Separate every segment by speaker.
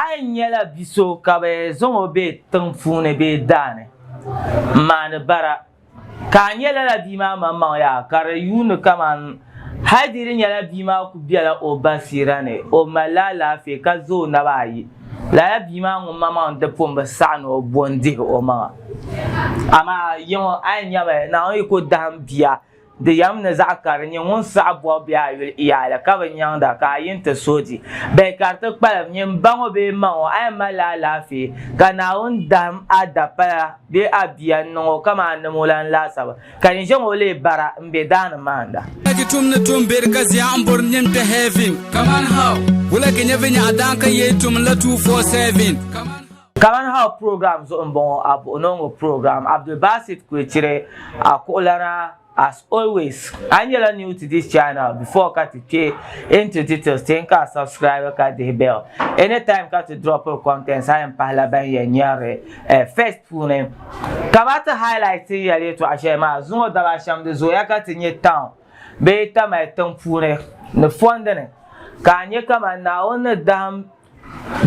Speaker 1: A yi nyɛla bi so ka bɛ zaŋ o be tiŋ puuni bee daa ni m-maani bara, ka a nyɛ lala bia maa maŋmaŋ yaa, ka di yuuni kaman hal di di nyɛla bia maa ku bela o basiira ni, o malila alaafee ka za o naba ayi, lala bia maa ŋun maŋmaŋ di pun bi saɣi ni o bo n-dihi omaŋa. Amaa yiŋa a yi nyami Naawuni yiko dahim bia, Di yam ni zaɣ kari n-nyɛ ŋun saɣi bɔbu bɛ a yuli yaali ka bi nyaŋda ka a yi ni ti suhi di. Bɛ ka di ti kpalim, nyin m baŋ o bee m maŋ o, a yɛn malila alaafee, ka Naawuni dahim a dapala bee a bia n-niŋ o kaman a nim o lan laasabu, ka yin ʒe ŋ o leei bara m-be daa ni maanda. Wula ki tum ni tum
Speaker 2: beri ka zia n bori nim kpe heaven? Kaman how? Wula ki nyɛ vinyɛɣu daan ka yee tum la two four seven? Kaman how? Kaman
Speaker 1: How program zuɣu m-bɔŋɔ a buɣi ni o ŋɔ program Abdulbasit Kwechire a kuɣulana As always a nyɛla new to this channel before ka ti kpe into details teei ka a subscribe ka dihi bell anytime ka ti dropiri contents a yɛn pahila ban yɛn nyarili first puuni kama ti highlight tin yɛli yɛtɔɣa shɛli maa zuŋɔ daba shɛm di zooya ka ti nyɛ town bee Tamale tiŋ puuni ni fondini ka a nyɛ kaman Naawuni ni dahim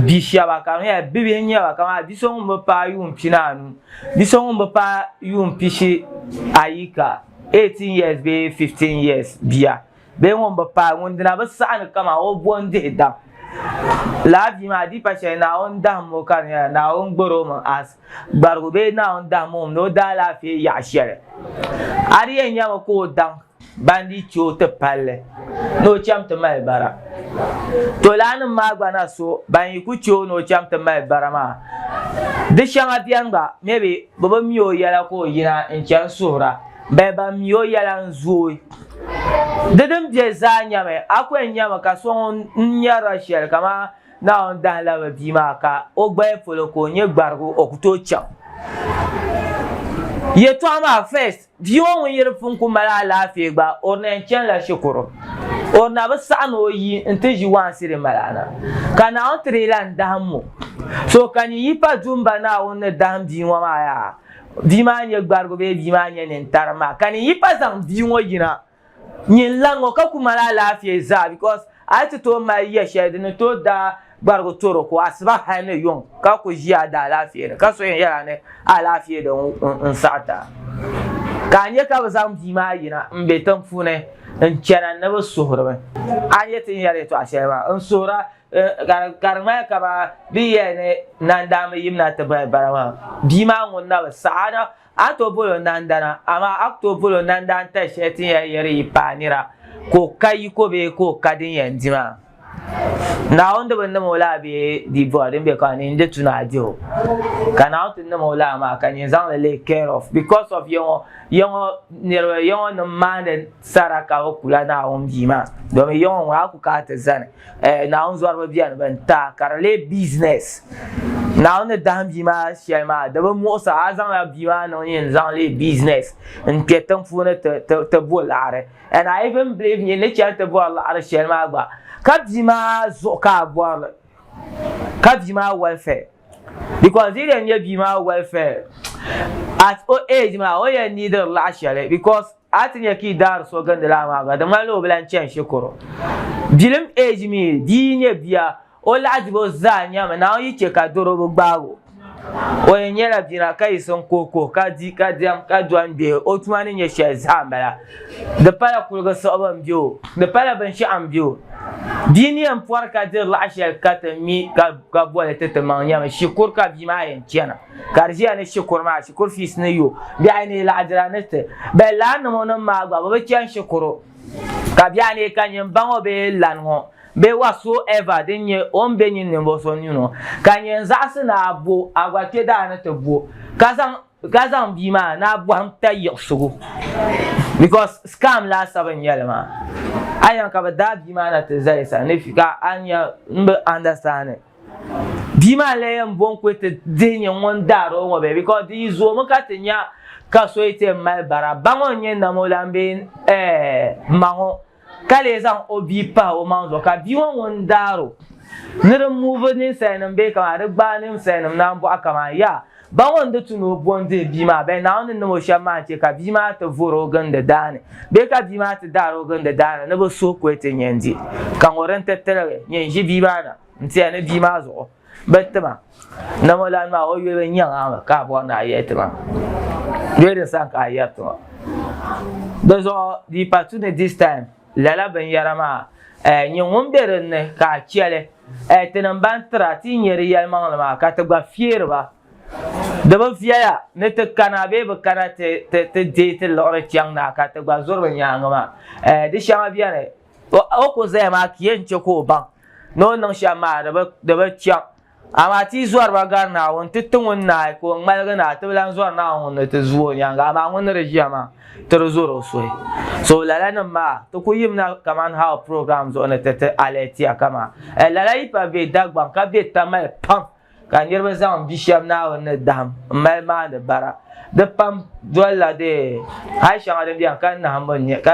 Speaker 1: bi shɛba ka di nyɛla bibihi n nyɛba kamani bia so ŋun bi paai yuun pini anu bia so ŋun bi paai yuun pishi ayi ka 18 years bee 15 years bia bee ŋun bi paai ŋun dina bi saɣani kama o bo n dihi daŋ laa bia maa adiipa shɛli naawuni dahim o ka di nyɛla naawuni garo mi as gbarigu bee naawuni dahim o ni o daalaafee yaɣa shɛli a di yɛn nyɛmi ka o daŋ Bandi che o ti palli ni o cham ti mali bara. Tolaannim maa gba na so ban yi ku che o ni o cham ti mali bara maa. Di shɛŋa beni gba, maybe bɛ bi mi o yɛla ka o yina n-chani suhira, bali ban mi o yɛla n-zooi. Di din be zaa nyɛmi, a ku yɛn nyami ka so ŋun n nyarila shɛli kamani Naawuni dahin labi bia maa ka o gbaya polo ka o nyɛ gbarigu o ku tooi chaŋ. Yɛtɔɣa maa first, Bia ŋɔ ŋun yiri pun ku mali alaafee gba, o ni yɛn chani la shikuru. O na bi saɣi ni o yi n-ti ʒi waansi din mali ana. Ka Naawuni ti di la n-dahim mo. So ka nyin yi pa duumba Naawuni ni dahim bia ŋɔ maa yaa, bia maa n-nyɛ gbarigu bee bia maa n-nyɛ nintari maa, ka nyin yi pa zaŋ bia ŋɔ yina Nyin lan ŋɔ ka ku mali alaafee zaa because a yi ti tooi mali ya shɛli di ni tooi daa gbarigi toroko asiba hal ni yuŋ ka ku ʒi a daalaafee ni ka so yɛn yɛl a ni a alaafee di n-saɣit a. Ka a nya ka bɛ zaŋ bia maa yina m-be tiŋ puuni n-chana ni bɛ suhiri mi. A ni yɛn ti yɛli yɛtɔɣ shɛli maa n-suhir a ka di ŋmani ka ba bɛ yɛli ni Nandaa mi yimina ti bahi bara maa bia maa ŋun na bi saɣi a na A tooi bol o nandana, amaa a ku tooi bol o nandan tali shɛli ti ni yɛn yɛri yi paai nira ka o ka yiko bee ka o ka din yɛn di maa. Naawuni di bi nim o laa bee di bɔri din be ka ni n-di tu ni a di o. Ka Naawuni ti nim o laa maa ka nyin zaŋ li leei care of because of yiŋɔ yiŋɔ niriba yiŋɔ nim maandi sara ka bi kula Naawuni Bia maa domin yiŋɔ ŋun a ku ka a ti zani. Eh, Naawuni zɔriba beni bɛn ta ka di lee business. Naawuni ni dahim bia maa shɛli maa di bi muɣisi a zaŋla bia maa niŋ yin zaŋ lee business n-kpe tiŋ puuni ti, ti, ti bo laɣiri. And I even believe nyin ni chani ti bɔri laɣiri shɛli maa gba ka bia maa zuɣu ka a bɔri li, ka bia maa welfare. Because di yi lee nyɛ bia maa welfare, at o age maa o yɛn neediri laɣishɛli because A ti nya ka yi daari so gindi laa maa gba, di ŋmanila o bi lan chani shikuru. Bilim eji mi, di yi nyɛ bia, o lahidibo zaa nyɛmi Naawuni yi chɛ ka doro bi gbaag o. O yɛn nyɛla bina ka yiɣisi n-kuhi kuhi, ka di, ka diɛm, ka dɔni be o tuma ni nyɛ shɛli zaa m-bala. Di pala kuliga siɣibu m-be o, di pala binshɛɣu m-be o. Bia ni yɛn pɔri ka diri laɣ shɛli ka ti mi ka boli ti timaŋ nyɛmi shikuru ka bia maa yɛn chana. ka di ʒiya ni shikuru maa shikuru fees ni yo bihi ayi ni laɣa dira ni ti bɛ lan niŋ nim maa gba bɛ bi chani shikuru ka bihi ayi ka nyin baŋ o bee lan ŋɔ bee whatsoever din nyɛ o ni be nyin ninvuɣu so nyu ŋɔ ka nyin zaɣisi ni a bo a gba kpe daa ni ti bo ka zaŋ ka zaŋ bia maa ni a bɔhim ta yiɣisigu because scam laasabu n nyɛli maa a yɛn ka bɛ daai bia maa na ti zali sa ni ka a nya n bi understand. Bia maa lee yɛn bɔŋ kuli ti dihi nyɛ ŋun daari o ŋɔ bee because di yi zoomi ka ti nya ka so yi ti yɛn mali bara ba ŋɔ n-nyɛ nam o lan bee ɛɛh ma ŋɔ ka lee zaŋ o bia pahi o maŋ zuɣu ka bia ŋɔ ŋun daari o ni di move ninsalinim bee kaman di gbaai ninsalinim naan bɔɣu kaman yaa Baŋ o ni di tu ni o bo n-dih bia maa bee Naawuni ni niŋ o shɛm maa n-chɛ ka bia maa ti vor o gindi daa ni bee ka bia maa ti daari o gindi daa ni ni bɛ suhi ku ti nya n-di. Ka ŋɔ din ti tiligi nyɛ n-ʒi bia maa na n-tiya ni bia maa zuɣu bi ti ma, Namolan maa o yuli n-nyɛ ŋa mi ka a bɔri ni a yɛli ti ma bee di sani ka a yɛri ti ma. Di zuɣu di yi pa tu ni this time. Lala binyɛra maa, nyɛ ŋun be din ni ka a chɛ li. Tinim ban tir a ti nya di yɛlimaŋli maa, ka ti gba fiɛri ba. Di bi viɛya ni ti kana bee bi kana ti deei ti liɣiri chaŋ na ka ti gba zuri bɛ nyaaŋa maa. Di shɛŋa beni. O ku zaya maa ka yɛn chɛ ka o baŋ ni o niŋ shɛm maa di bi chaŋ. Amaa ti yi zɔri ba gari Naawuni nti ti ŋun naai ka o ŋmaligi ni a ti bi lan zɔri Naawuni ŋun ni ti zuui o nyaaŋa, amaa ŋun ni di ʒiya maa, ti di zɔri o suhi. So lalanim maa, ti ku yimina kaman how program zuɣu ni ti ti alert ya kaman eh lala yi pa be Dagbaŋ ka be tamali pam ka niriba zaŋ bi shɛb Naawuni ni dahim m-mali maandi bara. Di pam dolila dee hal shɛŋa din beni ka nahimbu n-nyɛ ka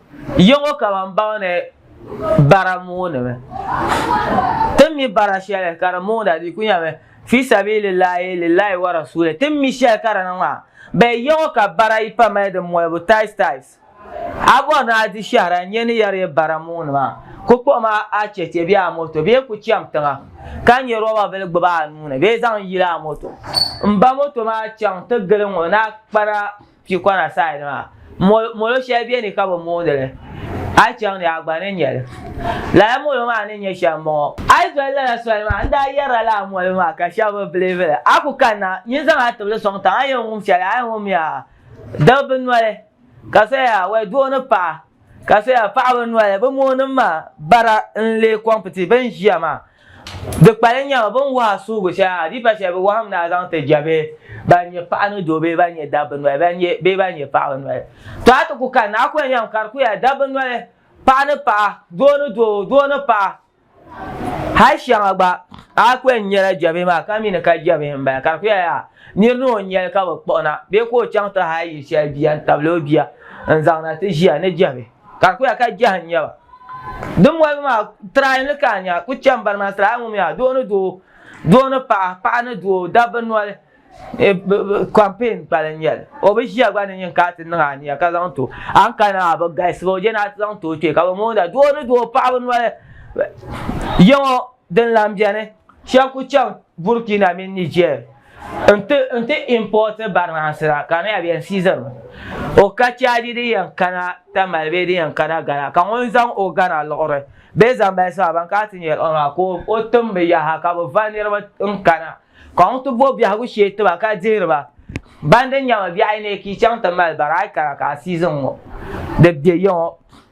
Speaker 1: Yiŋɔ ka ban baŋdi bara mooni mi. Tin mi bara shɛli ka di mooda di ku nyɛmi fi sabiili Laahi lillahi wa rasuulihi. Tin mi shɛli ka di niŋ maa. Bee yiŋɔ ka bara yi pa mali di molibu tiles tiles. A bɔri ni a di shɛhira n-nyɛ ni yɛri yi bara mooni maa, ku kpuɣi ma a chɛchɛ bee a moto bee ku chaŋ tiŋa ka nyɛ roba bili gbubi a nuu ni bee zaŋ yili a moto. M ba moto maa chaŋ ti gili ŋɔ ni a kpara. Tikwana side maa molo shɛli bɛ ni ka bi mooni li a yi chaŋ ni a gba ni nyɛ li lala molo maa ni nyɛ shɛli n bɔŋɔ. A yi doli lala soli maa n daa yɛrila lala molo maa ka shɛba bi biliivi li a ku kanna n yi zaŋ a tibili sɔŋ tiŋa a yɛn wum shɛli a yɛn wum ya daba bi noli ka so ya wɛ doo ni paɣa ka so ya paɣaba noli bi moonim maa bara n lee kɔmpiti bɛ ni ʒiya maa. Di kpalim nyɛba bɛ ni wuhi a suhigu shɛli adiifa shɛli bɛ wɔhim ni a zaŋ ti ja bɛ ban nyɛ paɣa ni doo bee ban nyɛ dabba noli bee ban nyɛ paɣaba noli. Tɔ a ti ku kani ni a kuli nyam ka di ku ya dabba noli, paɣa ni paɣa, doo ni doo, doo ni paɣa. Hal shɛŋa gba a ku yɛn nyala jɛbihi maa ka mi ni ka jɛbihi m-bala ka di ku ya yaa nir ni o nyali ka bɛ kpuɣi na bee ka o chaŋ ti hal yili shɛli bia n-tabili o bia n-zaŋ na ti ʒiya ni jɛbihi. Ka ku ya ka jɛhi n-nyɛ ba. Din boli maa, try ni ka a nya, ku chɛ m-bari ma, try ŋun mi a, doo ni doo, doo ni paɣa, paɣa ni doo, dabba noli, campaign pali n-nyɛ li. O bi ʒiya gba ni nyin ka a ti niŋ a nia ka zaŋ ti o. A ni kani maa, bi galisi ba, o je ni a ti zaŋ ti o kpee ka bi moonda, doo ni doo, paɣaba noli, yiŋɔ. Din lahi beni, shɛb ku chaŋ Burkina mini Niger nti nti import barinansi la ka di yɛn season mi. O ka Chadi di yɛn kana Tamale bee di yɛn kana Ghana ka ŋun zaŋ o Ghana liɣiri bee Zambales maa ban kana ti nyari o maa ka o tim bi yaha ka bi va niriba n-kana ka ŋun ti bo biɛhigu shee ti ba ka dihiri ba. Ban di nyami biɛhi yi neei ka yi chaŋ ti mali bara a yi kana ka a season ŋɔ di be ya ŋɔ.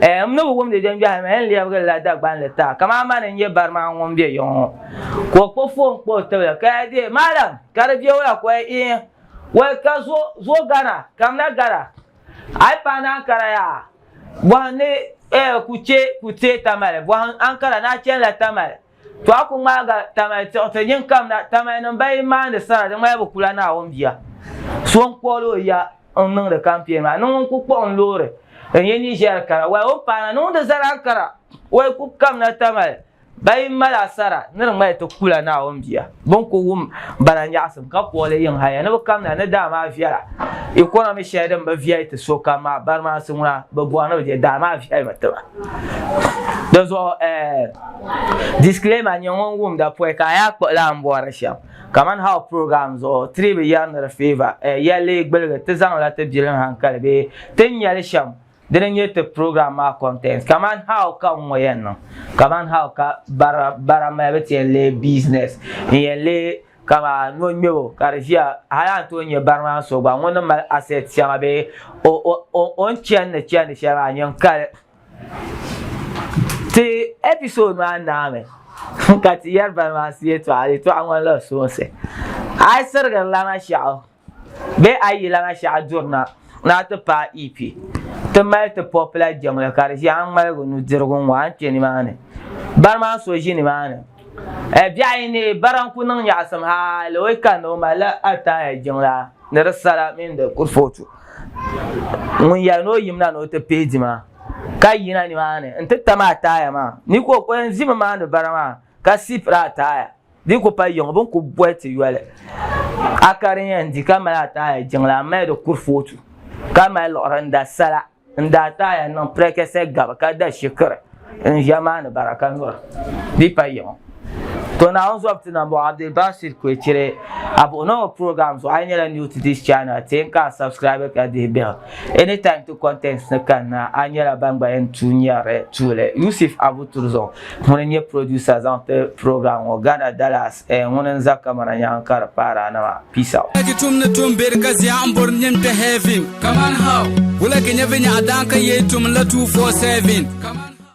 Speaker 1: Ɛɛ, m ni bi wumdi jɛngbɛhi mi, n lɛbigili la Dagbanli taa, kaman a ma ni n-nyɛ bari maa ŋun be yiŋ ŋɔ. Ka o kpuɣi foon kpa o tibili, ka ya deei, Maalam, ka di be wula? Ka o yɛli, Iin, wal ka zo, zo gana, kamina gana. A yi pahi ni Ankara yaha, bɔhim ni, ɛɛ, ku chɛ, ku teei Tamale, bɔhim Ankara ni a chanila Tamale. To a ku ŋmaaga Tamai tiɣi ti nyin kamina, Tamai nim ba yi maandi sara di ŋmani bi kula Naawuni bia. So n kpuɣil o ya n niŋdi kampeen maa ni ŋun ku kpuɣi n loori n yi Niger kara. Wai o ni paana niŋdi zaran kara. Wai ku kamina Tamai ba yi mali a sara ni di ŋmani ti kula Naawuni bia. Bin ku wum bala nyaɣisim ka kɔɣili yiŋ haya ni bi kamina ni daa maa viɛla. Yi kɔna mi shɛli din bi viɛli ti sokam maa, barimaansi ŋuna bi bɔri ni bi je daa maa viɛlimi ti ba. Dinzuɣu eh, disclaimer, nyɛ ŋun wumda pɔi ka a yaa kpuɣi lan bɔri shɛm. Kamani how program zuɣu tiri bi yɛri ni di favour eh, yɛlli, gbuligi, ti zaŋ la ti bilim hankali bee ti nya li shɛm. Dini n-nyɛ ti program maa content kaman how ka n-ŋɔ yɛn niŋ kaman how ka bara bara malibu ti yɛn leei business n-yɛn leei kama nɔŋmɛbo ka di ʒiya hali a ni tooi nyɛ bari maa so gba ŋun ni mali asset shɛŋa bee o o o o ni chandi chandi shɛli maa nyin kali ti episode maa naa mi ka ti yɛri bari maa siye tɔɣa di tɔɣa ŋmanila soonsi a yi sirigiri lana shɛɣu Bee a yi lahi shɛɣu duri na, ni a ti paai EP, ti mali ti pɔpila jiŋli ka di ʒiɛhi ŋmaligi nudirigu ŋɔ a ni kpe nimaani. Bari maa so ʒi nimaani. Eh, biɛɣu yi ni bari a ni ku niŋ nyaɣisim hali o yi kani ni o mali la a taaya jiŋla ni di sala mini di kurifootu. Ŋun yɛli ni o yim na ni o ti pihi dima ka yina nimaani n-ti tam a taaya maa ni ka o yɛn ʒimi maani bari maa ka siipiri a taaya. Di ku pa yiŋ bini ku bɔhi ti yoli a ka di yɛn di ka mali a taaya jiŋli a mali di kurifootu ka mali liɣiri n da sala n da a taaya niŋ pirɛkɛsɛ gabi ka da shikiri n ʒiya maa ni bara ka nyura di pa yiŋ To Naawuni zɔbu ti na m-bɔŋɔ Abdul Basir Kwechere a buɣi na o program zuɣu a yi nyɛla new to this channel ti yɛn ka a subscribe ka dihi biɛhigu anytime ti contents ni kani na a nyɛla ban gba yɛn tuui nyɛri tuuli Yusuf Abu Turzɔŋ Ŋuni n-nyɛ producer zaŋ ti program ŋɔ, Ghana Dallas eh, ŋuni n-za camera nyaaŋa ka di paari a nama. Peace out. Wula ki tum ni tum be di
Speaker 2: ka zia n bori nyin kpe heaven kaman how? Wula ki nya vinya a daan ka yee tum n la 247 kaman how?